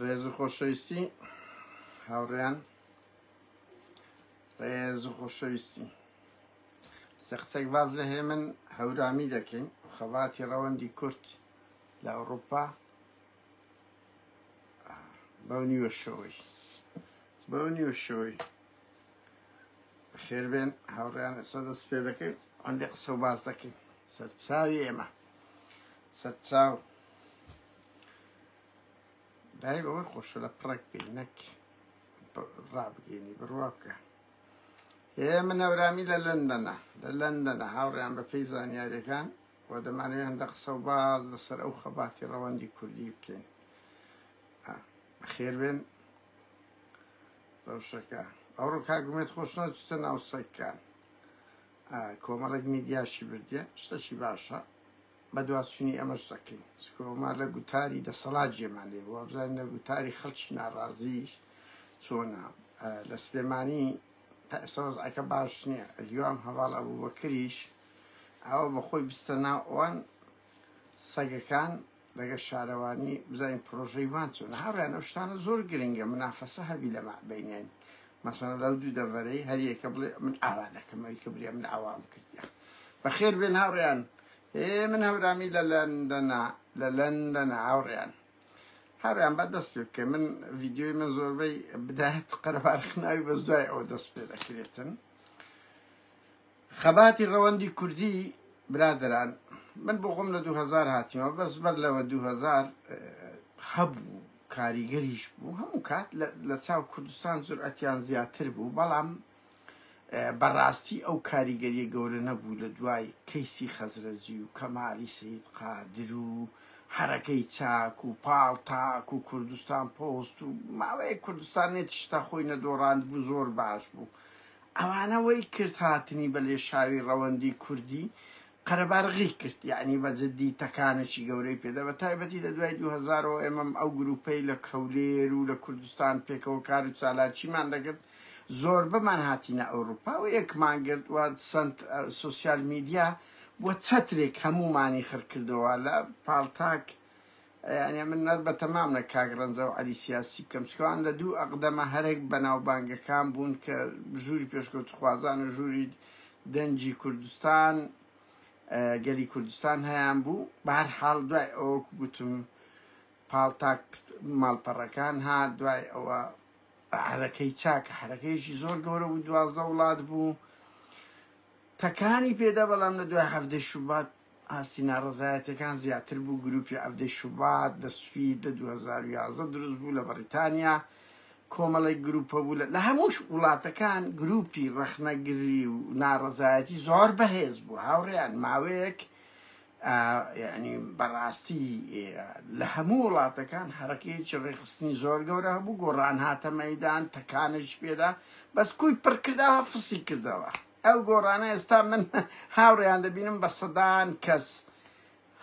ڕێز و خۆشەویستی هاوڕێیان ڕێز و خۆشەویستی سەقسەک باز لە هێمن هەورامی دەکەین خەباتی ڕەوەندی کورت لە ئەوروپا بەو نیوە شەوەی بەو نیوە شەوەی خێربێن هاوڕیان ئێستا دەست پێ دەکەین ئەندێ قسە و باز دەکەین سەرچاوی ئێمە سەد چاو دای بەوەی خۆشە لە پڕێک پێ نەک ڕابگەینی بڕوا بکە هێ من هەورامی لە لەندەنە لە لەندەنە هاوڕیان بە پێی زانیاریەکان و دەمانێت هەندە قسە و باز لەسەر ئەو خەباتی ڕەوەندی کوردی بکەین خێربێن ڕەوشەکە ئەو ڕووکا گومێت خۆش نەچتە ناو سەکان کۆمەڵێک میدیاشی بردە شتەشی باشە بەدواچونی ئەمەش دەکەین چونکە ئەمە لە گوتاری دەسەڵات جێمان لێ بووە بزانین لە گوتاری خەڵکی ناڕازیش چۆنە لە سلێمانی سەوزعەکە باش نییە هیوام هەواڵ ئەبوو بەکریش ئەوە بە خۆی بستە ناو ئەوان سەگەکان لەگە شارەوانی بزانین پرۆژەی وان چۆن هاوریان ئەو شتانە زۆر گرنگە منافەسە هەبی لە مەعبینێن مەسەڵەن لەو دوو دەڤەرەی هەریەکە بڵێ من ئاوا دەکەم ئەوی کە برێ من ئاوام کردیە بەخێر بێن هاوڕێیان ئێ من هەورامی لە لەندەنا لە لەندەنا هاوڕێیان هەڕیان بە دەست پێ بکە من ڤیددیوی من زۆربەی بدات قەربارخناوی بەس دوای ئەو دەست پێ دەکرێتن خەباتی ڕەوەندی کوردی برادەران من بۆ خۆم لە دوو هەزار هاتیمەوە بەس بەر لەوە دوو هەزار هەبوو کاریگەریش بوو هەموو کات لە چاو کوردستان جورئەتیان زیاتر بوو بەڵام بەڕاستی ئەو کاریگەریە گەورە نەبوو لە دوای کەیسی خەزرەجی و کەمالی سید قادر و حرەکەی چاک و پاڵ تاک و کوردستان پۆست و ماوەیە کوردستان نێت شتا خۆی نەدۆڕاند بوو زۆر باش بوو ئەوانە وەی کرد هاتنی بە لێشاوی ڕەوەندی کوردی قەرەبارغی کرد یەعنی بە جدی تەکانەکی گەورەی پێدا بە تایبەتی لە دوای دوو هەزار و ئێمەم ئەو گروپەی لە کەولێر و لە کوردستان پێکەوە کار و چالاکیمان دەکرد زۆربەمان هاتینە ئەوروپا و یەکمان گرت و سنت سوسیال میدیا بۆ چەترێک هەموومانی خڕکردەوە لە پاڵتاک یانێ من نەر بە تەمام نە کاک ڕەنجە و عەلی سیاسی بکەم چکە ئەوان لە دوو ئەقدەمە هەرەک بەناوبانگەکان بوون کە ژووری پێشکەوتخوازان و ژووری دەنجی کوردستان گەلی کوردستان هەیان بوو بەهر حاڵ دوای ئەوەکو گوتم پاڵتاک ماڵپەڕەکان ها دوای ئەوە حرەکەی چاکە حرەکەیەکی زۆر گەورە بوو دوازدە وڵات بوو تەکانی پێدا بەڵام لە دوای هەفتەی شوبات ئاستی ناڕەزایەتیەکان زیاتر بوو، گروپی عەڤدەی شوبات لە سوید لە دوو هەزار و یازدە دروست بوو لە بەڕیتانیا کۆمەڵێک گروپە بوو لە هەمووش وڵاتەکان گروپی ڕەخنەگری و ناڕەزایەتی زۆر بەهێز بوو هاوڕێیان ماوەیەک یعنی بەڕاستی لە هەموو وڵاتەکان هەرەکەیەکی ڕێخستنی زۆر گەورە هەبوو گۆڕان هاتە مەدان تەکانش پێدا بەس کوی پڕکردەوە فسی کردەوە ئەو گۆڕانە ئێستا من هاوڕێیان دەبینم بە سەدان کەس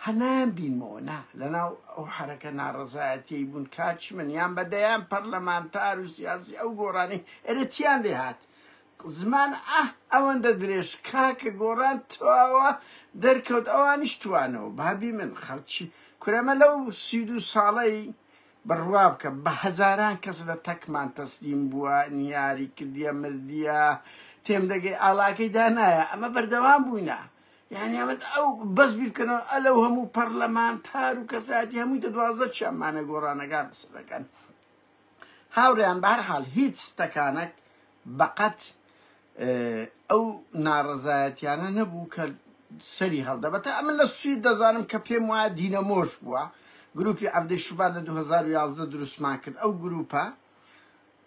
هەنان بینمەوە نا لەناو ئەو حرەکە ناڕەزایەتی بوون کاچ من یان بە دەیان پەرلەمانتار و سیاسی ئەو گۆڕانی ئەرە چیان لێ هاات زمان ئە ئەوەندە درێژ کاکە گۆڕان تواوە دەرکەوت ئەوانیش توانەوە بابی من خەڵکی کورەمە لەو سی دو ساڵەی بڕوا بکە بە هەزاران کەس لە تەکمان تەسلیم بووە نیاری کردیە مردیە تێم دەگەی ئاڵاکەی دانایە ئەمە بەردەوام بووینە یعنی ئەمە ئەو بەس بیرکەنەوە ئەلەو هەموو پەرلەمانتار و کەساتی هەمووی دە دوازدە چیانمانە گۆڕانەکان قسە دەکەن هاوڕیان بە هەر حال هیچ ستەکانەک بەقەت ئەو ناڕەزایەتیانە نەبوو کە سەری هەڵدەبەتا ئەمن لە سوید دەزانم کە پێم وایە دینەمۆش بووە گروپی عەفدەی شوبات لە 2011 دروستمان کرد ئەو گروپە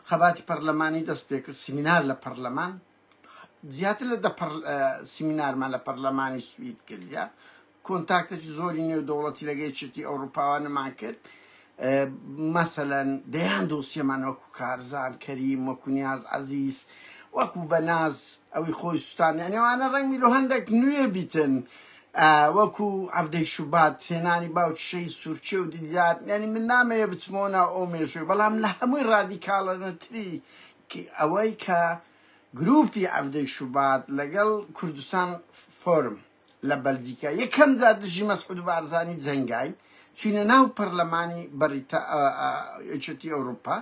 خەباتی پەرلەمانی دەست پێ کرد سیمینار لە پەرلەمان زیاتر لە دە سیمینارمان لە پەرلەمانی سوید کردە کۆنتاکت زۆری نێودەوڵەتی لەگە یەکێتی ئەوروپاوانەمان کرد مەسەلەن دەیان دۆسیەمان وەکو کارزان کەریم وەکو نیاز عەزیز وەکو بەناز ئەوی خۆی سوستان یانەوانە ڕەنگی لۆ هەندێک نوێ بیتن وەکو عەبدەی شوبات هێنانی باوکشەی سوورچێ و دیدار یعنی من نامەیە بچمەوە ناو ئەو مێژوی بەڵام لە هەمووی ڕادیکاڵەنەتری ئەوەی کە گروپی عەبدەی شوبات لەگەڵ کوردستان فۆرم لە بەلجیکا یەکەم جار دژی مەسعود بارزانی جەنگاین چینە ناو پەرلەمانی بەریتا یەکێتی ئەوروپا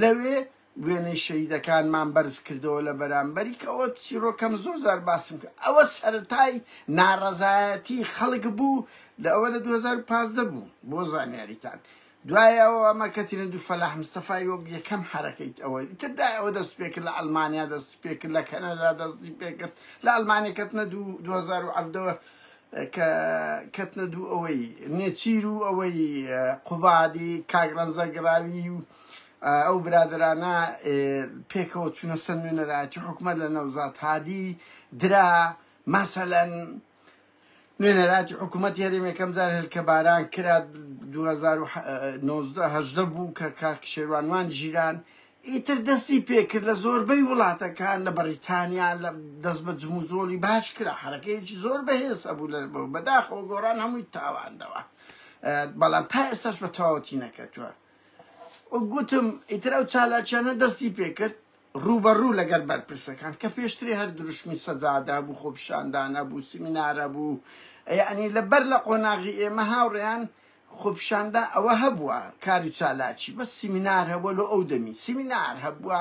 لەوێ وێنەی شەهیدەکانمان بەرز کردەوە لە بەرامبەری کە ئەوە چیرۆکەم زۆر زار باسم کرد ئەوە سەرەتای ناڕەزایەتی خەڵک بوو لە ئەوە لە 2015 بوو بۆ زانیاریتان دوای ئەوە ئەمە کەتینە دوو فەلاح مستەفای وەک یەکەم حرەکەیت ئەوە ئیتر دای ئەوە دەست پێکرد لە ئەلمانیا دەستی پێکرد لە کەنەدا دەستی پێکرد لە ئەلمانیا کەتنە دوو 2010ەوە کە کەتنە دوو ئەوەی نێچیر و ئەوەی قوبادی کاگڕەنزەگراوی و ئەو برادرانە پێکەوە چوونە سەر نوێنەرایەتی حکومە لە نەوزات هادی درا مەسەەن نوێنەراتی حکوومەت هەرێم یەکەم جار هێلکەباران کرا 2019 بوو کە کاک شێوانوان ژیران ئیتر دەستی پێکرد لە زۆربەی وڵاتەکان لە بەریتانیا لە دەست بە جموزۆڵی باش کرا حرەکەیەکی زۆر بەهێسە بوو لە بەداخەوە گۆڕان هەمووی تاواندەوە بەڵام تا ئێستاش بە تەواوەتی نەکەتووە گوتم ئیتر ئەو چالاکیانە دەستی پێکرد ڕووبەڕوو لەگەل بەرپرسەکان کە پێشتری هەر دروشمی سەجادە هەبوو، خۆپیشاندان هەبوو، سیمینار هەبوو، یەعنی لە بەر لە قۆناغی ئێمە هاوڕێیان خۆپیشاندان ئەوە هەبووە کاری چالاکی بەس سیمینار هەبووە لۆ ئەو دەمی سیمینار هەبووە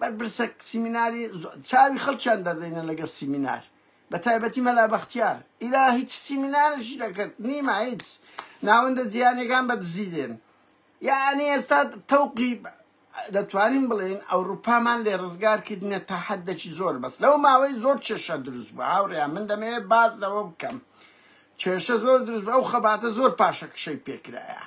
بەرپرسە سیمیناری چاوی خەڵکیان دەردەینە لەگەڵ سیمینار بە تایبەتی مەلا بەختیار ئیلا هیچ سیمینارشی دەکرد نیمە هیچ ناوەندە جیانەکان بە دزی دێن یعنی ئێستا تەوقی دەتوانین بڵێین ئەوروپامان لێ ڕزگار کردنە تا حەددەکی زۆر بەس لەو ماوەی زۆر کێشە دروست بوو هاوڕێیان من دەمەیە باز لەوە بکەم کێشە زۆر دروست بە ئەو خەباتە زۆر پاشەکشەی پێکرایە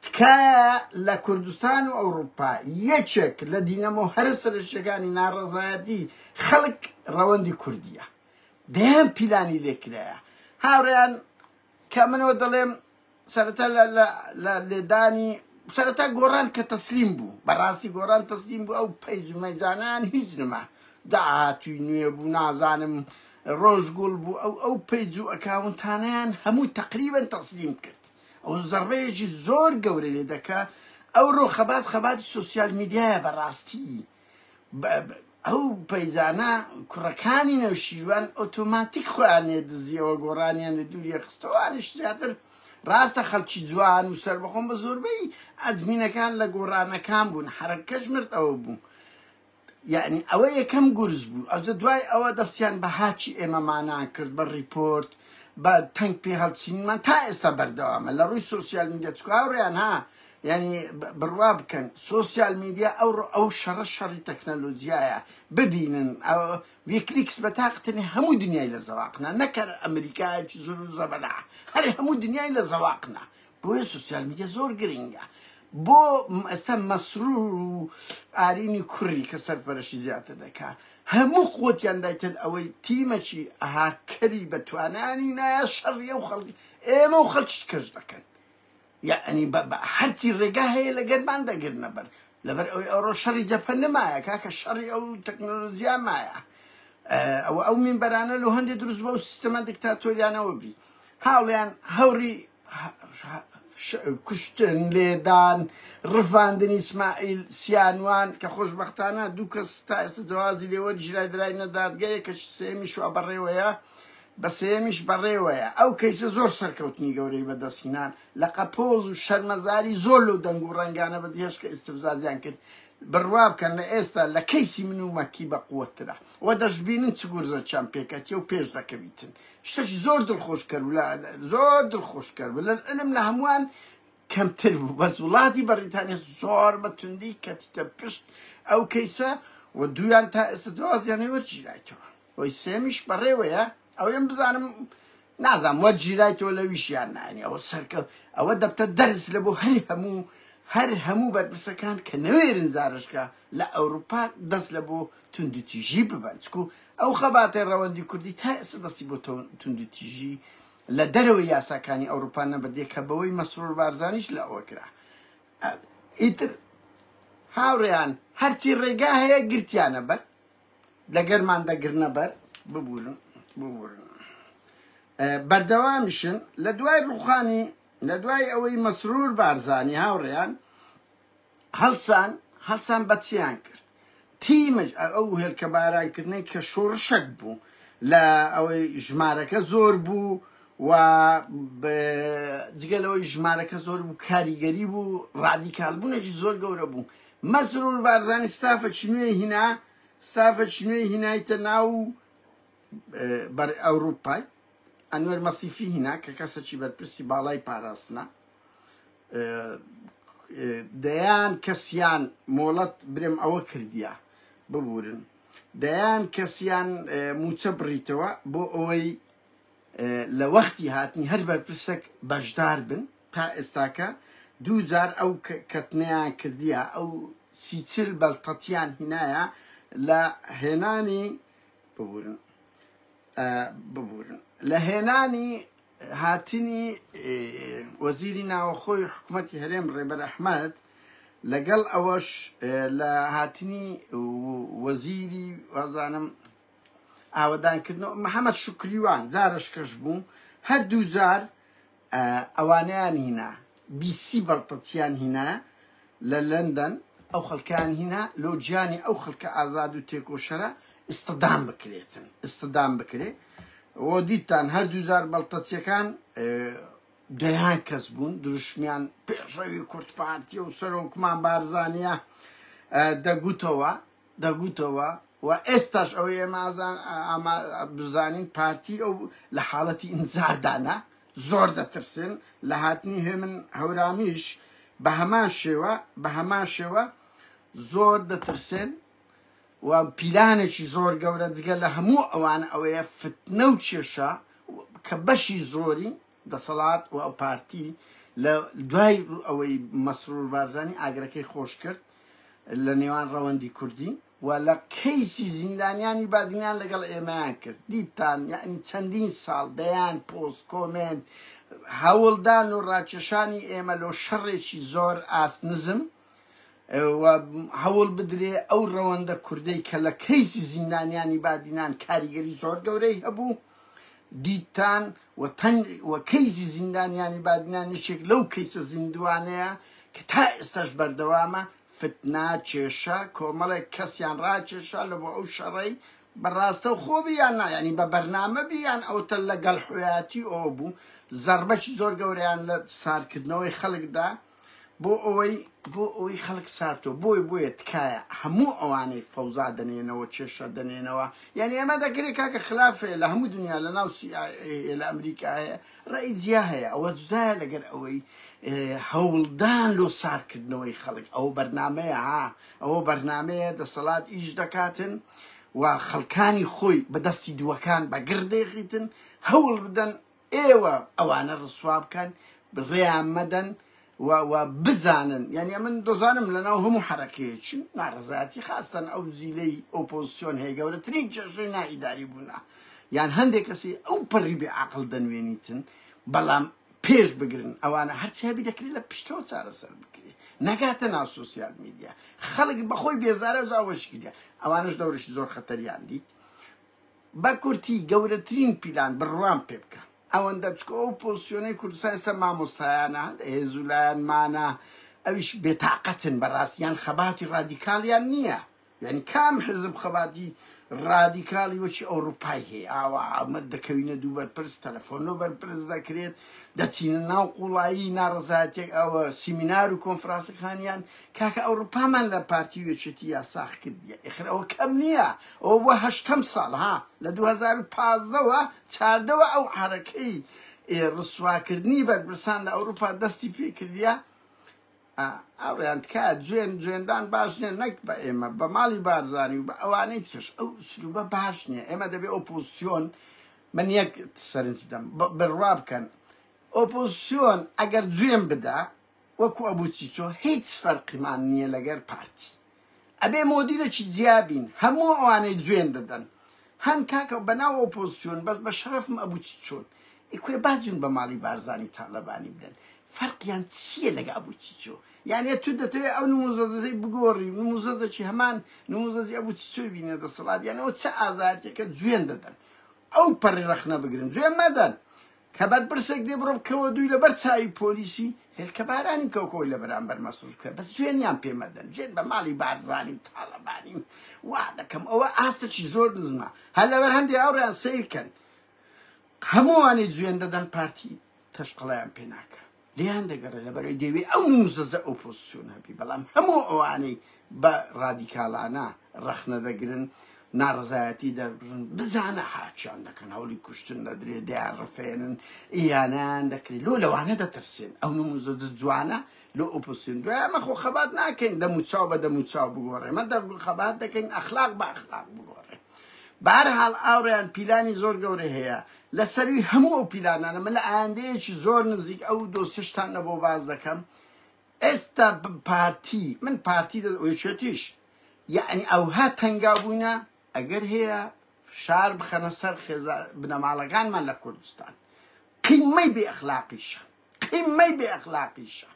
تکایە لە کوردستان و ئەوروپا یەکێک لە دینەمە و هەرە سەرشتەکانی ناڕەزایەتی خەڵک ڕەوەندی کوردیە دەیان پیلانی لێکرایە هاوڕێیان کە منەوە دەڵێم سەرەتا لە لە لە لێدانی سەرەتا گۆڕان کە تەسلیم بوو بەڕاستی گۆڕان تەسلیم بوو ئەو پەیجمەجانان هیچ نما داهاتوی نوێ بوو نازانم ڕۆژگوڵ بوو ئەو ئەو پەیج و ئەکاونتانیان هەموو تقریبن تەسلیم کرد ئەو زەڕەیەکی زۆر گەورە لێ دەکە ئەو ڕۆ خەبات خەباتی سوسیال میدیایە بەڕاستی ئەو پەیزانە کوڕەکانی نەوشیروان ئۆتۆماتیک خۆیان لێ دزیەوە گۆڕانیان لە دووریە خستەوانش زیاتر ڕاستە خەڵکی جوان و سربەخۆم بە زۆربەی ئەدمینەکان لە گۆڕانەکان بوون حرەکەش مرد ئەوە بوو یعنی ئەوە یەکەم گورز بوو ئەوجە دوای ئەوە دەستیان بە هاچی ئێمەمانان کرد بە ڕیپۆرت بە تەنگ پێ هەڵچینمان تا ئێستا بەردەوامە لە ڕووی سوسیال میدیە چکاوڕیان ها یانی بڕوا بکەن سوسیال میدیا ئەو ئەو شەڕە شەڕی تەکنەلۆجیایە ببینن ویکلیکس بە تاقتنی هەموو دنیای لە زەواقنا نەکەر ئەمریکا زور و زەبەلا هەر هەموو دنیای لە زەواقنا بۆیە سوسیال میدیا زۆر گرنگە بۆ ئێستا مەسرور و ئارینی کوڕی کە سەرپەرشی زیاتر دەکا هەموو خۆتیان دایتن ئەوەی تیمەکی ئەهاکەری بەتوانانی نایە شەڕیە و خەڵکی ئێمە و خەڵکی کەش دەکەن یەعنی بە بە هەرچی ڕێگا هەیە لەگەرمان دەگرنە بەر لەبەر ئەوی ئەوڕۆ شەڕی جەپە نەمایە کاکە شەڕی ئەو تەکنۆلۆژیا مایە ئەوە ئەو مینبەرانە لە هەندێک دروست بە و سیستەمە دیکتاتۆریانەوە بی هاوڵیان هەوری کوشتن لێدان ڕفاندنی سمائیل سیانوان کە خۆشببختانە دوو کەس تا ئێستا جوازی لێوە ژرای درای نەدادگەیە کە سێمی شووا بەڕێوەیە بە سێیەمیش بەڕێوەیە، ئەو کەیسە زۆر سەرکەوتنی گەورەی بەدەست هینا، لە قەپۆز و شەرمەزاری زۆر لەو دەنگ و ڕەنگانە بە دهێشت کە ئیستفزازیان کرد، بڕوا بکەن لە ئێستا لە کەیسی من و مەکی بەقوەتترە و دەشبینن چ گورزەکیان پێکەتیە و پێش دەکەویتن، شتەکی زۆر دڵخۆشکەر و لە زۆر دڵخۆشکەر و لە علم لە هەمووان کەمتر بوو، بەس وڵاتی بەڕیتانیا زۆر بە توندی کەتیتە پشت ئەو کەیسە و دوویان تا ئێستا جوازیان نەوەرگیرایتەوە. ئۆی سێمیش بەڕێوەیە ئەوەیم بزانم نازام وەت ژیرای تۆ لەویشیان نانی ئەوە سەرکە ئەوە دەبتە دەرس لە بۆ هەر هەموو هەر هەموو بەرپرسەکان کە نەوێرن زارشکە لە ئەوروپا دەست لە بۆ توندوتیژی ببەن چکو ئەو خەباتێ ڕەوەندی کوردی تا ئێستا دەستی بۆ توندوتیژی لە دەرەوە یاساکانی ئەوروپا نەبردێ کە بەوەی مەسرور بارزانیش لە ئەوە کرا ئیتر هاوڕێیان هەرچی ڕێگا هەیە گرتیانە بەر دەگەرمان دەگرنە بەر ببورن ببورن بەردەوامیشن لە دوای ڕوخانی لە دوای ئەوەی مەسرور بارزانی هاوڕێیان هەڵسان هەڵسان بەچیان کرد تیمج ئەو هێلکە بارانکردنەی کە شۆڕشەک بوو لە ئەوەی ژمارەکە زۆر بوو و جگەلەوەی ژمارەکە زۆر بوو کاریگەری بوو ڕادیکالبوونێکی زۆر گەورە بوو مەسرور بارزانی ستافچ نوێی هینا ستافچ نوێی هینایتە ناو بەر ئەوروپای ئەنوەر مەسیفی هینا کە کەسەکی بەرپرسی باڵای پاراستنە دەیان کەسیان مۆڵەت برم ئەوە کردیا ببورن دەیان کەسیان موچە بڕیتەوە بۆ ئەوەی لە وەختی هاتنی هەر بەرپرسەک بەشدار بن، تا ئێستاکە دوو جار ئەو کەتنەیان کردیە، ئەو سی چل بەلتەتیان هینایە لە هێنانی ببورن ببورن لە هێنانی هاتنی وەزیری ناوەخۆی حکوومەتی هەرێم ڕێبەر ئەحمد لەگەڵ ئەوەش لە هاتنی وەزیری وازانم ئاوەدانکردنەوە محەمەد شوکریوان جارەشکەش بوو هەردوو جار ئەوانیان هینا بیسی بەڵتەچیان هینا لە لەندەن ئەو خەڵکان هینا لۆ گیانی ئەو خەڵکە ئازاد و تێکۆشەرە ئستدام بکرێتن ئستدام بکرێت و دیتان هەردوو جار بەڵتەچیەکان دەیان کەس بوون دروشمیان پێشەوی کورتپارتی و سەرۆکمان بارزانە دەگوتەوە دەگوتەوە و ئێستاش ئەوەی ئێمە ئازان ئاما بزانین پارتی ئەو لە حاڵەتی ئینزاردانە زۆر دەترسن لە هاتنی هێمن هەورامیش بە هەمان شێوە بە هەمان شێوە زۆر دەترسێن و پیلانێکی زۆر گەورە جگە لە هەموو ئەوان ئەوەیە فتنە و کێشە کە بەشی زۆری دەسەڵات و پارتی لە دوای ئەوەی مەسرور بارزانی ئاگرەکەی خۆش کرد لە نێوان ڕەوەندی کوردی و لە کەیسی زیندانیانی بادینان لەگەڵ ئێمەیان کرد دیتان یعنی چەندین ساڵ دەیان پۆست کۆمێنت هەوڵدان و ڕاکێشانی ئێمە لۆ شەڕێکی زۆر ئاست نزم و هەوڵ بدرێ ئەو ڕەوەندە کوردەی کە لە کەیسی زیندانیانی بادینان کاریگەری زۆر گەورەی هەبوو دیتان و تەنگ و کەیسی زیندانیانی بادینان یەکێک لەو کەیسە زیندوانەیە کە تا ئێستاش بەردەوامە فتنا کێشە کۆمەڵێک کەسیان ڕاکێشا لە بۆ ئەو شەڕەی بەڕاستە و خۆبی یان نایانی بە بەرنامە بیان ئەوتە لەگەڵ حویاتی ئەو بوو زەربەکی زۆر گەوریان لە سارکردنەوەی خەڵکدا بۆ ئەوەی بۆ ئەوەی خەڵک سارتۆ بۆی بۆیە تکایە هەموو ئەوانەی فەوزا دەنێنەوە کێشە دەنێنەوە یعنی ئەمە دەکرێت کاکە خلافەیە لە هەموو دنیا لە ناو CIA لە ئەمریکا هەیە ڕێی جیا هەیە ئەوە جدایە لەگەر ئەوەی هەوڵدان لۆ سارکردنەوەی خەڵک ئەو بەرنمەیە ها ئەوە بەرنمەیە دەسەڵات ئیش دەکاتن و خەڵکانی خۆی بەدەستی دووەکان بەگردێخیتن هەوڵ بدەن ئێوە ئەوانە ڕسوا بکەن ڕێیان مەدەن و و بزانن یعنی من دۆزانم لەناو هەموو حرەکەیەکی ناڕزایەتی خاستن ئەو زیلەی ئۆپۆزیسیۆن هەیە گەورەترین جێژەی نائیداری بوونە یان هەندێک کەسی ئەو پەڕی بێ عقل دەنوێنیتن بەڵام پێش بگرن ئەوانە هەرچی هەبی دەکرێت لە پشتەوە چارەسەر بکرێت نەگاتە ناو سوسیال میدیا خەڵک بەخۆی بێزارە زاوەشکردە ئەوانش دەورشی زۆر خەتەریان دیت بە کورتی گەورەترین پیلان بڕوام پێ بکە ئەوەندە چکۆ ئەو پۆسیۆنەی کوردستان ئێستا مامۆستایانە هێزو لایەنمانە ئەویش بێتاقەتن بەڕاست یان خەباتی ڕادیکالیان نییە یعنی کام حزب خەباتی ڕادیکالی وەچی ئەوروپای هەیە ئاوا ئەمە دەکەوینە دوو بەرپرس تەلەفۆن لۆ بەرپرس دەکرێت دەچینە ناو قوڵایی ناڕزایەتێک ئەوە سیمینار و کۆنفرانسەکانیان کاکە ئەوڕوپامان لە پارتی و یەکێتی یا ساخ کردیە ئێخر ئەوە کەم نییە ئەوە بوە هەشتەم ساڵ ها لە دوو هەزار و پازدە وە چاردەوە ئەو عارەکەی ئێ ڕسواکردنی بەرپرسان لە ئەوروپا دەستی پێ کردیە ئا ئاوڕیان تکایە جوێن جوێندان باش نییە نەک بە ئێمە بە ماڵی بارزانی و بە ئەوانەی ترش ئەو سروبە باش نییە ئێمە دەبێ ئۆپۆزسیۆن من یەک سەرنج بدەم بە- بڕوا بکەن ئۆپۆزسیۆن ئەگەر جوێن بدا وەکو ئەبو چیچۆ هیچ فەرقمان نیە لەگەر پارتی ئەبێ مۆدیلەکی جیا بین هەموو ئەوانەی جوێن دەدەن هەن کاکە بەناو ئۆپۆزسیۆن بەس بە شەرەفم ئەبو چیچۆن ئی کورە با جون بە ماڵی بارزانی و تالەبانی بدەن فەرقیان چیە لەگە ئەبو چیچۆ یانە تو دەتەوێ ئەو نموزەزەی بگۆڕی نموزەزەکی هەمان نموزەزی ئەبو چیچۆی بینە دەسەڵات یانەوە چ ئازاتێکە جوێن دەدەن ئەو پەڕی ڕەخنە بگرن جوێن مەدەن کە بەرپرسێک دێ بڕۆ بکەوە دووی لە بەر چاوی پۆلیسی هێلکە بارانی کەوکەوەی لە بەرامبەر مەسرف کرد بەس جوێنیان پێ مەدەن جوێن بە ماڵی بارزانی و تاڵەبانی و وا دەکەم ئەوە ئاستەکی زۆر نزمە هەر لەبەر هەندێک هاوڕێیان سەیرکەن هەمووانی جوێن دەدەن پارتی تەشقڵیان پێ ناکە لێیان دەگەڕێ لەبەرەوەی دەوێ ئەو نوزەزە ئۆپۆزسیۆن هەبی بەڵام هەموو ئەوانەی بە ڕادیکالانە ڕەخنە دەگرن ناڕزایەتی دەربرن بزانە هاچیان دەکەن هەوڵی کوشتن لە درێ دەیان ڕفێنن یانیان دەکرێت لۆ لەوانە دەترسێن ئەو نموزە جوانە لۆ ئۆپۆسیون دوایمە خۆ خەبات ناکەین دەموچاو بە دەموچاو بگۆڕێ مە خەبات دەکەین ئەخلاق بە ئەخلاق بگۆڕێ بارحاڵ ئاوڕیان پیلانی زۆر گەورە هەیە لە سەروی هەموو ئەو پیلانانە من لە ئایندەیەکی زۆر نزیک ئەو دۆسیشتان نەبۆ باز دەکەم ئێستا پارتی من پارتی دەشێتیش یعنی ئەوها تەنگا بووینە ئەگەر هەیە فشار بخەنە سەر خێزا بنەماڵەکانمان لە کوردستان قیمەی بێ ئەخلاقیشە قیمەی بێ ئەخلاقیشە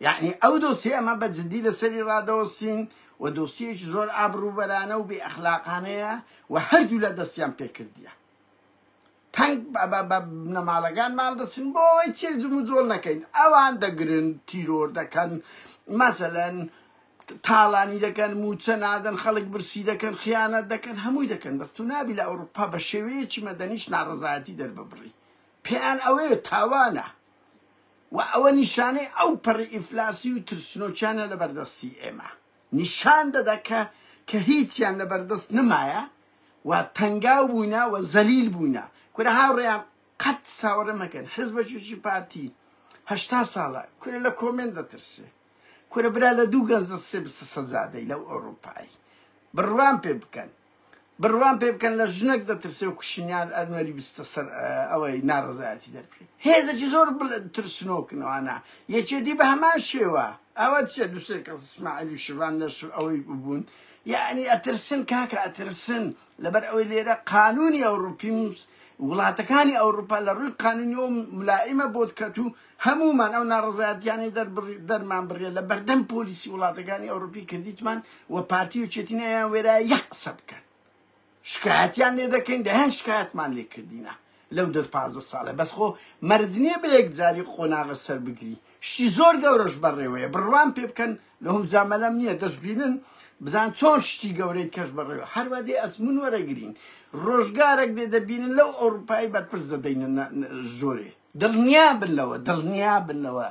یەعنی ئەو دۆسیەمە بە جدی لەسەری ڕادەوەستین و دۆسیەیەکی زۆر ئابڕوبەرانە و بێ ئەخلاقانەیە و هەردوو لە دەستیان پێکردیە تەنگ بنەماڵەکان ماڵ دەسن بۆ ئەوەی چێ جم و جۆڵ نەکەین ئەوان دەگرن تیرۆر دەکەن مەسەلەن تاڵانی دەکەن موچە نادەن خەڵک برسی دەکەن خیانەت دەکەن هەمووی دەکەن بەس تو نابی لە ئەوروپا بە شێوەیەکی مەدەنیش ناڕزایەتی دەرببڕی پێیان ئەوەیە تاوانە و ئەوە نیشانەی ئەو پەڕی ئیفلاسی و ترسنۆکیانە لە بەردەستی ئێمە نیشان دەدا کە کە هیچیان لە بەردەست نمایە و تەنگاو بووینە و زەلیل بووینە کورە هاوڕێیان قەت ساوەڕێ مەکەن حزبەکیشی پارتی هەشتا ساڵە کورە لە کۆمێن دەترسێ کورە برا لە دوو گەنج دەسێ بسە سەزادەی لەو ئەوروپایی بڕوان پێ بکەن بڕوام پێ بکەن لە ژنەک دەترسێ و کوشنیان ئەنوەری بستە سەر ئەوەی ناڕزایەتی دەرکرێت هێزەکی زۆر ترسنۆکنەوانە یەکێتی بە هەمان شێوە ئەوە چە دوسێ کە سماعلی شڤان لەش ئەوەی ببوون یعنی ئەترسن کاکە ئەترسن لەبەر ئەوەی لێرە قانونی ئەوروپی وڵاتەکانی ئەوروپا لە ڕووی قانونی و ملائمە بۆت کەت و هەموومان ئەو ناڕەزایەتیانەی دەرمان بڕیە لە بەردەم پۆلیسی وڵاتەکانی ئەوروپی کردیتمان و پارتی و چێتینەیان وێرای یەک قسە بکەن شکایەتیان لێ دەکەین دەهێن شکایەتمان لێ کردینە لەو دە پازدە ساڵە بەس خۆ مەرزنیە بە یەکجاری قۆناغە سەر بگری شتی زۆر گەورەش بەڕێوەیە بڕوان پێ بکەن لەهم جامەلەم نییە دەستبینن بزان چۆن شتی گەورەی کەش بەڕێوە هەروە دێ ئەسمون وەرەگرین ڕۆژگارێک دێ دەبینن لەو ئەوروپای بەرپرس دەدەینە زۆرێ دڵنیابن لەوە دڵنیابن لەوە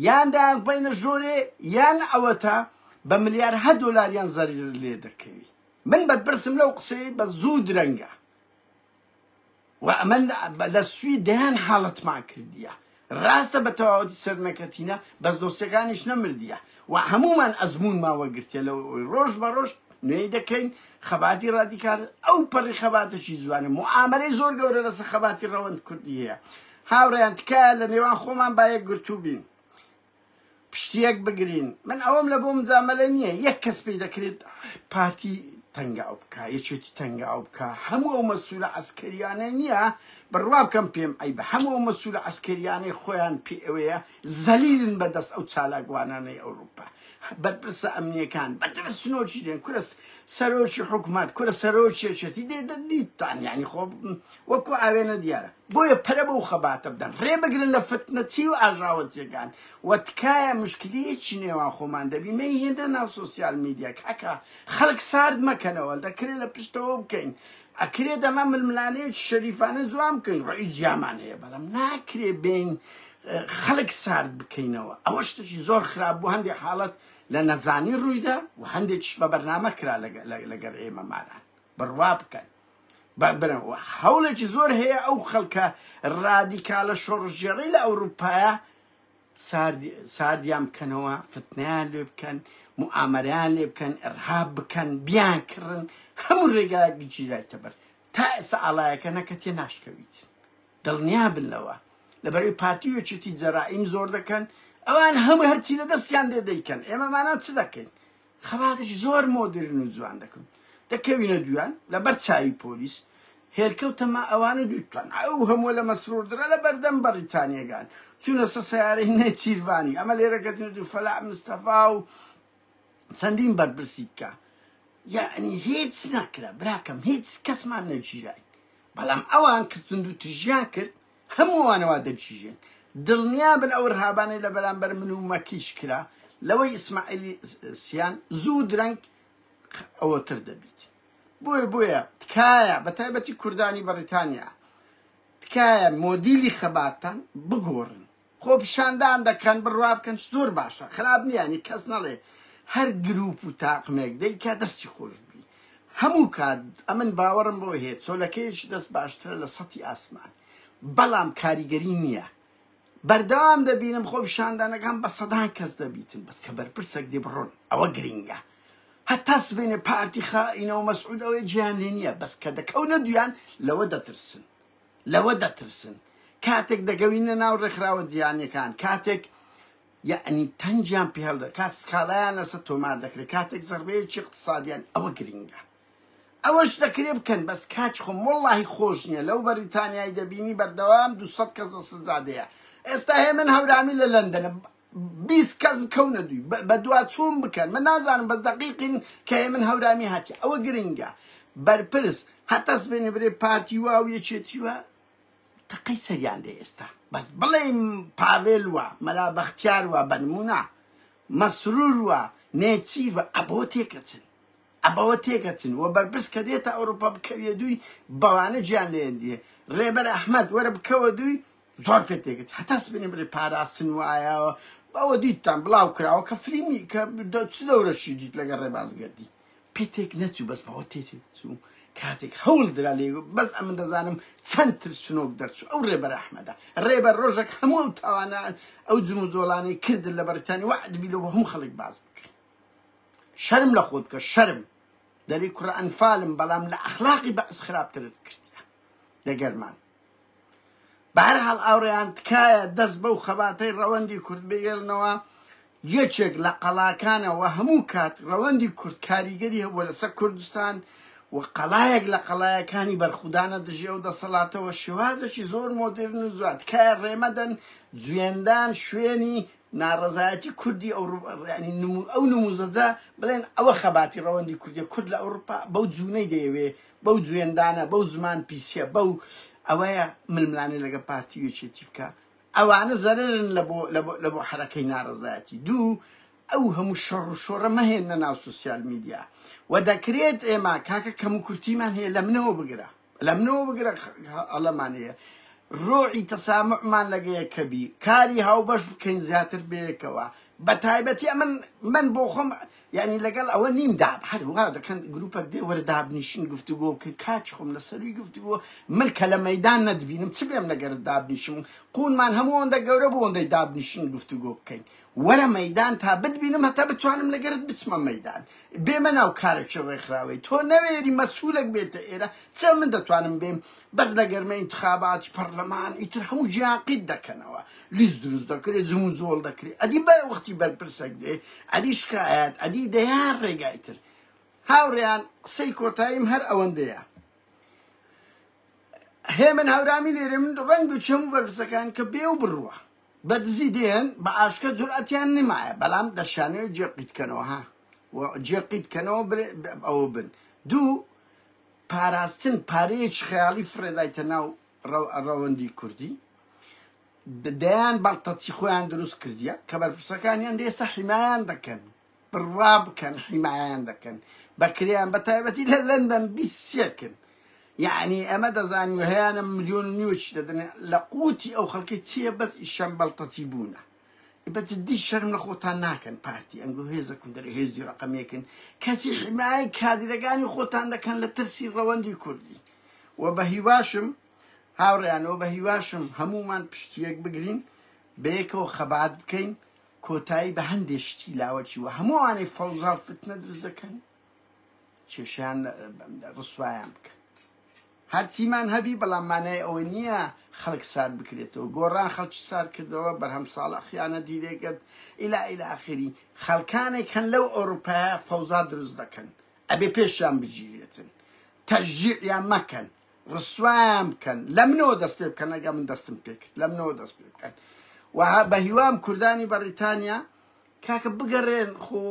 یان دایانڕبینە ژۆرێ یان ئەوەتا بە ملیار هە دۆلاریان زەریر لێ دەکەوی من بەرپرسم لەو قسەی بە زوو درەنگە و ئەمە لە سوی دەیان حاڵەتمان کردیە ڕاستە بە تەواوەتی سەرنەکەتینە بەس دۆستەکانیش نەمردیە و هەموومان ئەزموونمان وەرگرتیە لەوەی ڕۆژ بە ڕۆژ نوێی دەکەین خەباتی ڕادیکال ئەو پەڕی خەباتەکی جوانە موعامەرەی زۆر گەورە لەسە خەباتی ڕەوەند کوردی هەیە هاوڕیان تکایە لە نێوان خۆمان باەک گرتوو بین پشتیەک بگرین من ئەوەم لە بۆ مجاملە نییە یەک کەس پێی دەکرێت پارتی تەنگا ئەو بکە یەکێتی تەنگا ئەو بکە هەموو ئەو مەسوولە ئەسکەریانە نییە بڕوا بکەم پێم ئەی بە هەموو مەسوولە ئەسکەریانەی خۆیان پێ ئەوەیە زەلیلن بە دەست ئەو چالاکوانانەی ئەوروپا بەرپرسە ئەمنیەکان بە ترسنۆکی دێن کورە سەرۆکی حکومات کورە سەرۆکی یەکێتی دێ دەدیتان یعنی خۆ وەکو ئاوێنە دیارە بۆیە پەرە بەو خەباتە بدەن ڕێ بگرن لە فتنەچی و ئاژاوەچیەکان و تکایە مشکلیەکی نێوان خۆمان دەبی مەی هێندە ناو سوسیال میدیا کاکە خەڵک سارد مەکەنەوە دەکرێت لە پشتەوە بکەین ئەکرێت دەمە ململانەیەکی شەریفانە جوان بکەین ڕێی جیامان هەیە بەڵام ناکرێ بین خەلک سارد بکەینەوە ئەوە شتەکی زۆر خراپ بوو هەندێک حاڵەت لە نەزانی روویدا و هەندێکیش بە بەرنامە کرا لەگەر ئێمە ماران بڕوا بکەن بەبرەوە هەوڵێکی زۆر هەیە ئەو خەڵکە رادیکالە شۆڕژێڕی لە ئەوروپایە ساردیان بکەنەوە فتنیان لێ بکەن موامەریان لێ بکەن ئەرهاب بکەن بیان کڕن هەموو ڕێگایەک گچیدای تەبەر تا ئێستا ئاڵایەکە نەکە تێ ناشکەویت دڵنیا بن لەوە لەبەرەی پارتی و یەکێتی جەرائیم زۆر دەکەن ئەوان هەموو هەرچی لە دەستیان دێ دەیکەن ئێمەمانان چ دەکەین خەباتش زۆر مۆدرن و جوان دەکەن دەکەوینە دویان لەبەر چاوی پۆلیس هێلکەوتەما ئەوانە دووتان ئەو هەموو لە مەسرۆردرا لە بەردەم بەڕیتانیەکان چونە سە سیارەی نێچیرڤانی ئەمە لێرەکەتن دوو فەلا مستەفا و چەندین بەرپرسی بکە یعنی هیچ نەکرا براکەم هیچ کەسمان نەگیرای بەڵام ئەوان کە توندوتژیان کرد هەمووانە وا دەگیژێن دڵنیابن ئەو رهابانەی لە بەرامبەر من و مەکیش کرا لەوەی ئیسماعیلی سیان زوو درەنگ ئەوەتر دەبیت بۆیە بۆیە تکایە بە تایبەتی کوردانی بەڕیتانیا تکایە مۆدیلی خەباتان بگۆڕن خۆپیشاندان دەکەن بڕوا بکەن زۆر باشە خراپ نیانی کەس نەڵێ هەر گروپ و تاقمێک دەیکا دەستی خۆش بی هەموو کات ئەمن باوەڕم بۆ هەیە چۆلەکەیەکی دەست باشترە لە سەتی ئاسمان بەڵام کاریگەری نییە بەردەوام دەبینم خۆ پیشاندانەکان بە سەدان کەس دەبیتن بەس کە بەرپرسێک دی بڕۆن ئەوە گرنگە هەتا سبێنێ پارتی خائینەوە مەسعودەوەی جیان لێ نییە بەس کە دەکەونە دویان لەوە دەترسن لەوە دەترسن کاتێک دەگەوینە ناو ڕێکخراوە جیهانیەکان کاتێک یعنی تەنجیان پێهڵدە کات سکاڵایان لەسەر تۆمار دەکرێت کاتێک زەربەیەکی اقتصادیان ئەوە گرنگە ئەوەش دەکرێ بکەن بەس کاچ خۆم وڵی خۆش نییە لەو بەریتانیای دەبینی بەردەوام دو کەس سزادەیە ئێستا هێ من هەورامی لە لەندەنە بیست کەس بکەونە دووی بەدواچوون بکەن من نازانم بەس دەقیقین کە هەیە من هەورامی هاتی ئەوە گرنگە بەرپرس هەتەس بێنێ برێ پارتی وا و یەکێتی وە تەقەی سەریان لێ ئێستا بەس بڵێ پاڤێل وە مەلا بەختیار وە بەنمونە مەسرور وە نێچیر وە ئەبۆ تێکەچن ئەبەوە تێکەچن وە بەرپرس کە دێتە ئەوروپا بکەوێ دووی بەوانە گیان لێ دیێ ڕێبەر ئەحمد وەرە بکەوە دووی زۆر پێ تێگەت هەتا سبێنێ بڵێ پاراستن وایە بەوە دیتتان بڵاو کراوە کە فلیمی کە چ دەورەشی دیت لەگە ڕێبازگەردی پێ تێک نەچوو بەس بەوە تێ تێک چوو کاتێک هەوڵ درا لێ بەس ئەم دەزانم چەند ترسنۆک دەرچوو ئەو ڕێبەر ئەحمەدا ڕێبەر ڕۆژێک هەموو ئەو تاوانە ئەو جم و زۆڵانەی کردن لە بەرتانی وعد بیلۆ بە هەموو خەڵک باز بکەن شەرم لە خۆت بکە شەرم دەری کوڕ ئەنفالم بەڵام لە ئەخلاقی بەعس خراپترت کردە لەگەرمان بەهەرحاڵ ئاوڕێیان تکایە دەست بەو خەباتەی ڕەوەندی کورد بگێرنەوە یەکێک لە قەڵاکانە و هەموو کات ڕەوەندی کورد کاریگەری هەبووە لەسەر کوردستان و قەڵایەک لە قەڵایەکانی بەرخودانە دژی ئەو دەسەڵاتەوە شێوازێکی زۆر مۆدرن و زوات تکایە ڕێمەدەن جوێندان شوێنی ناڕەزایەتی کوردی ئەو نموزەجە بڵێن ئەوە خەباتی ڕەوەندی کوردی کورد لە ئەوروپا بەو جوونەی دەیەوێ بەو جوێندانە بەو زمان پیسیە بەو ئەوەیە ململانێ لەگە پارتی وێچێتی بکە ئەوانە زەررن لە بۆ حرەکەی ناڕزایەتی دوو ئەو هەموو شەڕ و شۆڕە مەهێنە ناو سوسیال میدیا و دەکرێت ئێمە کاکە کەم و کورتیمان هەیە لە منەوە بگرە لە منەوە بگرە ئەڵەمان هەیە ڕۆعی تەسامعمان لەگەیە کەبی کاری هاوبەش بکەین زیاتر بەیەکەوە بە تایبەتی ئەمن من بۆ خۆم ئەمن یانی لەگەڵ ئەوە نیم داب هەر وا دەکەن گروپەک دێ وەرە دابنیشن گفتوگۆ بکەن کاچ خۆم لە سەروی گفتوگۆ من کە لە مەدان نەدبینم چ بێم لەگەرت دابنیشم قونمان هەموو ئەوەندە گەورە بوو ئەوەندەی دابنیشن گفتوگۆ بکەین وەرە مەدان تا بتبینم هەتا بتوانم لەگەرت بچمە مەدان بێمە ناو کارێکی ڕێکخراوەی تۆ نەوێری مەسوولەک بێتە ئێرە چ من دەتوانم بێم بەس لەگەرمە ئینتخاباتی پەرلەمان ئیتر هەموو جیاقیت دەکەنەوە لیست دروست دەکرێت جمو جۆڵ دەکرێت ئەدی بە وەختی بەرپرسەک دێ ئەدی شکایەت ئەدی دەیان ڕێگای تر هاوڕێیان قسەی کۆتاییم هەر ئەوەندەیە هێ من هاورامی لێرە من ڕنگ و چەم و بەرپرسەکان کە بێ و بڕوە بە دزی دێن بە ئاشکە جورئەتیان نمایە بەڵام دەشانەوە جێ قیتکەنەوە ها جێ قیتکەنەوە ئەوە بن دوو پاراستن پارەیەکی خەیاڵی فڕێدایتە ناو ڕەوەندی کوردی دەیان بەڵتەچی خۆیان دروست کردیە کە بەرپرسەکانیان دێسە حیمایان دەکەن بڕوا بکەن حیمایان دەکەن بەکریان بە تایبەتی لە لەندەن بیسێکن یعنی ئەمە دەزانین هەیەە میلیۆن نیوچ دەدن لە قوتی ئەو خەڵکی چییە بەس ئیشەم بەڵتەچی بوونە بەجددی شەرم لە خۆتان ناکەن پارتی ئەنگۆ هێزە کوندەر هێزی ڕقمێکن کەچی حیمای کادرەکانی خۆتان دەکەن لە ترسی ڕەوەندی کوردی و بە هیواشم هاوڕێیان و بە هیواشم هەموومان پشتی یەک بگرین بەیەکەوە خەبات بکەین کۆتایی بە هەندێ شتی لاوەکی و هەمووانەی فەوزا فتنە دروست دەکەن کێشیان ڕسوایان بکە هەرچیمان هەبی بەڵام مانای ئەوە نییە خەڵک سار بکرێتەوە گۆڕان خەڵکی سار کردەوە بەرهەم ساڵە خیانە دیرێگەت ئیلا ئیلاخری خەڵکانێک هەن لەو ئەوروپایە فەوزا دروست دەکەن ئەبێ پێشیان بگیرێتن تەشجیعیان مەکەن ڕسوایان بکەن لە منەوە دەست پێ بکەن ئەگە من دەستم پێکرد لە منەوە دەست پێ بکەن وها بە هیوام کوردانی بەڕیتانیا کاکە بگەڕێن خۆ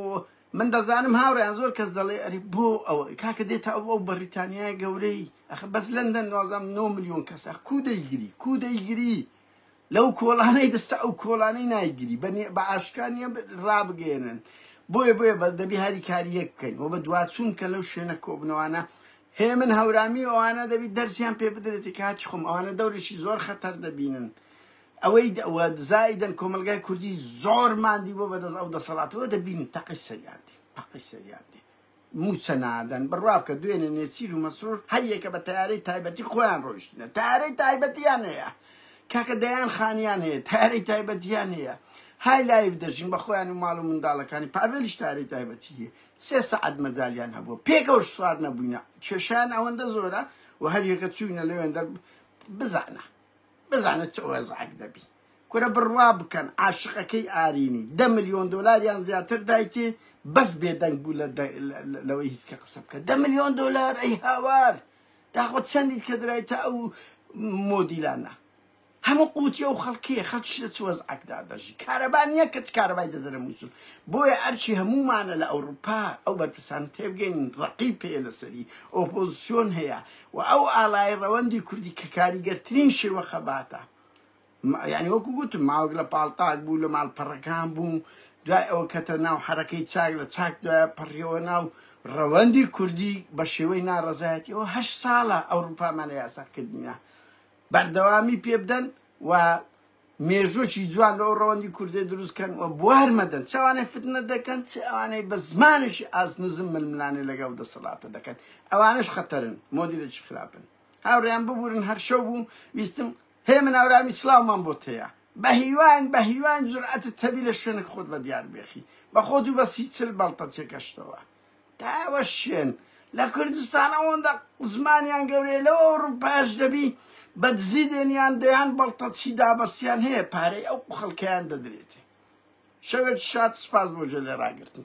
من دەزانم هاوڕیان زۆر کەس دەڵێ ئەری بۆ ئەوە کاکە دێتە ئەو ئەو بەڕیتانیای گەورەی ئەخ بەس لەندەن نازام 9 میلیۆن کەسە کو دەیگری کو دەیگری لەو کۆڵانەی دەستە ئەو کۆڵانەی نایگری بە ئاشکا نیە ڕابگەێنن بۆیە بۆیە بە دەبی هەری کاریەک بکەین و بە دواچوون کە لەو شوێنە کۆبنەوانە هێ من هەورامی ئەوانە دەبی دەرسیان پێ بدرێتی کاچ خۆم ئەوانە دەورێکی زۆر خەتەر دەبینن ئەوەی زایدن کۆمەلگای کوردی زۆر مادی بۆ بەدەست ئەو دەسەڵاتەوە دەبینی تەقی سەریاندی تەقی سەریاندی موچە نادەن بڕوا بکە دوێنێ نێچیر و مەسرور هەر یەکە بە تەیارەی تایبەتی خۆیان ڕۆیشتنە تارەی تایبەتیان هەیە کاکە دەیان خانیان هەیە تارەی تایبەتیان هەیە های لایف دەژین بە خۆیان و ماڵ و منداڵەکانی پاڤێلیش تارەی تایبەتی هەیە سێ سەعات مەجالیان هەبوو پێکەوە سوار نەبووینە کێشیان ئەوەندە زۆرە و هەر یەکە چووینە لەوێندەر بزانە بزانە چ وەزعک دەبی کورە بڕوا بکەن عاشقەکەی ئارینی دە ملیۆن دۆلار یان زیاتر دایتی بەس بێدەنگ بوو لەوەی هیچکە قسە بکە دە ملیۆن دۆلار ئەی هاوار داخۆ چەندیت کە درایتە ئەو مۆدیلانە هەموو قوتی ئەو خەڵکیە خەڵکیش لە چوەز ئەکدا دەژی کارەبا نییە کەچ کارەبای دەدەرە مووسول بۆیە ئەرچی هەمومانە لە ئەوروپا ئەو بەرپرسان تێبگەین ڕقی پێ لەسەری ئۆپۆزیسیۆن هەیە و ئەو ئالای ڕەوەندی کوردی کە کاریگەرترین شێوە خەباتە یانی وەکو گوتم ماوەک لە پاڵتاک بوو لە ماڵپەڕەکان بوو دوای ئەوە کەتە ناو حرەکەی چاک لە چاک دوای پەڕیەوە ناو ڕەوەندی کوردی بە شێوەی ناڕەزایەتیەوە هە ساڵە ئەوروپامانە یاساکردنیە بەردەوامی پێ بدەن و مێژۆکی جوان لەو ڕەوەندی کوردێ دروستکەن و بوار مەدەن چاوانێ فتنە دەکەن چ ئەوانەی بە زمانێکی ئاز نزم ململانێ لەگەڵ دەسەڵاتە دەکەن ئەوانش خەتەرن مۆدیلێکی خراپن هاوڕیان ببورن هەرشەو بوو ویستم هێمن ئارامی سڵاومان بۆت هەیە بەهیواین بەهیواین جورئەتت هەبی لە شوێنک خۆت بە دیار بێخی بە خۆت و بە سی چل بەڵتەچێکەشتەوە تاوە شوێن لە کوردستان ئەوەندە زمانیان گەورەیە لەو ئەوروپاش دەبی بە دزی دێنیان دەیان بەڵتەچی دابەستیان هەیە پارەی ئەو خەڵکیان دەدرێتێ شەوێت شاد سپاس بۆ ژە لێ ڕاگرتن